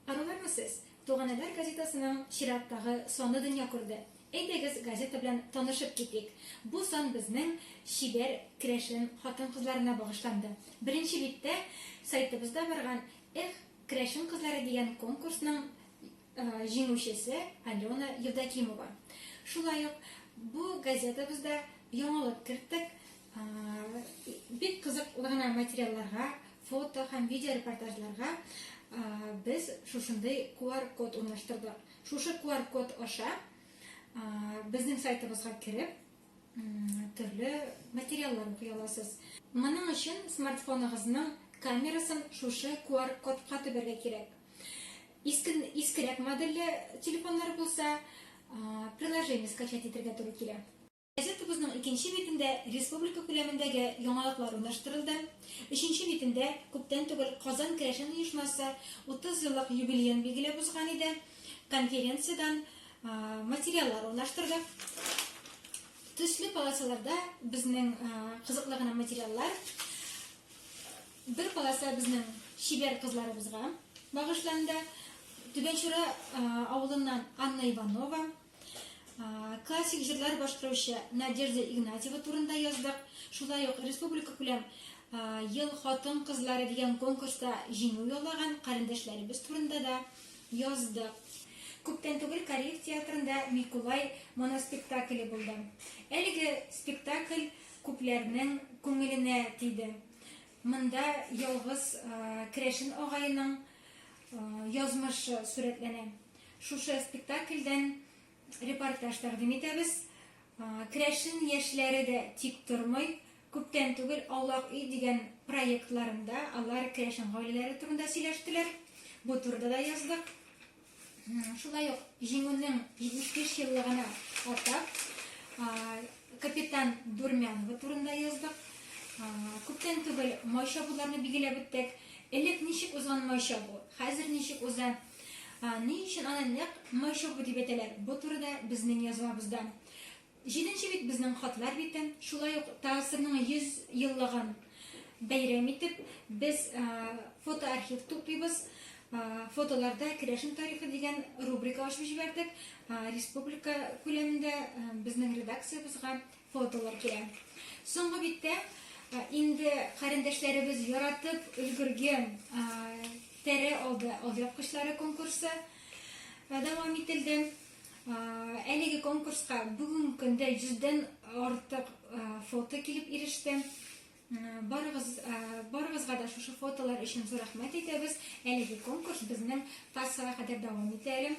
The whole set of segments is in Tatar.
Арулармы сез? Туганәләр газетасының чираттагы саны дөнья күрде. Әйдәгез, газета белән танышып китик. Бу сан безнең чибәр керәшен хатын-кызларына багышланды. Беренче биттә сайтыбызда барган Эх, керәшен кызлары дигән конкурсның җиңүчесе Алена Евдокимова. Шулай ук бу газетабызда яңалык керттек. Бик кызык гына материалларга, фото һәм видеорепортажларга без шушындый QR-код урнаштырдык. Шушы QR-код аша безнең сайтыбызга кереп, төрле материаллар укый аласыз. Моның өчен смартфоныгызның камерасын шушы QR-кодка төбәргә кирәк. Искен, искерәк модельле телефоннар булса, приложение скачать итәргә туры килә. Газетабызның икенче битендә республика күләмендәге яңалыклар урнаштырылды. Өченче битендә күптән түгел Казан керәшен оешмасы 30 еллык юбилеен билгеләп узган иде. Конференциядән материаллар урнаштырдык. Төсле полосаларда безнең кызыклы гына материаллар. Бер полоса безнең чибәр кызларыбызга багышланды. Түбән Чура авылыннан Анна Иванова, классик җырлар башкаручы Надежда Игнатьева турында яздык. Шулай ук республика күләм ел хатын кызлары дигән конкурста җиңү яулаган карендәшләребез турында да яздык. Күптән түгел Кариев театрында Микулай моноспектакле булды. Әлеге спектакль күпләрнең күңеленә тиде. Монда ялгыз керәшен агаеның язмышы сурәтләнә. Шушы спектакльдән репортаж тәкъдим итәбез. Керәшен яшьләре дә тик тормый. Күптән түгел Аулак өй дигән проектларында алар керәшен гаиләләре турында сөйләштеләр. Бу турыда да яздык. Шулай ук җиңүнең 75 еллыгына атап, капитан Дурмянова турында яздык. Күптән түгел майша буларны билгеләп үттек. Элек ничек узган майша бу? Хәзер ничек уза? Ни өчен аны нәкъ майша бу дип әйтәләр? Бу турыда безнең язмабызда. Җиденче бит безнең хатлар бите. Шулай ук ТАССРның 100 еллыгын бәйрәм итеп, без фотоархив туплыйбыз. Фотоларда керәшен тарихы дигән рубрика ачып җибәрдек. Республика күләмендә безнең редакциябезгә фотолар килә. Соңгы биттә инде карендәшләребез яратып өлгерген тәрә алды алъяпкычлары конкурсы дәвам ителде. Әлеге конкурска бүген көндә 100-дән артык фото килеп иреште. Барыгыз, барыгызга да шушы фотолар өчен зур рәхмәт әйтәбез. Әлеге конкурс безнең Тарсага кадәр дәвам итә әле.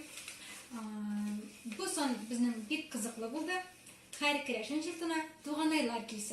Бу сон безнең бик кызыклы булды. Һәр керәшен җортына туганайлар килсен.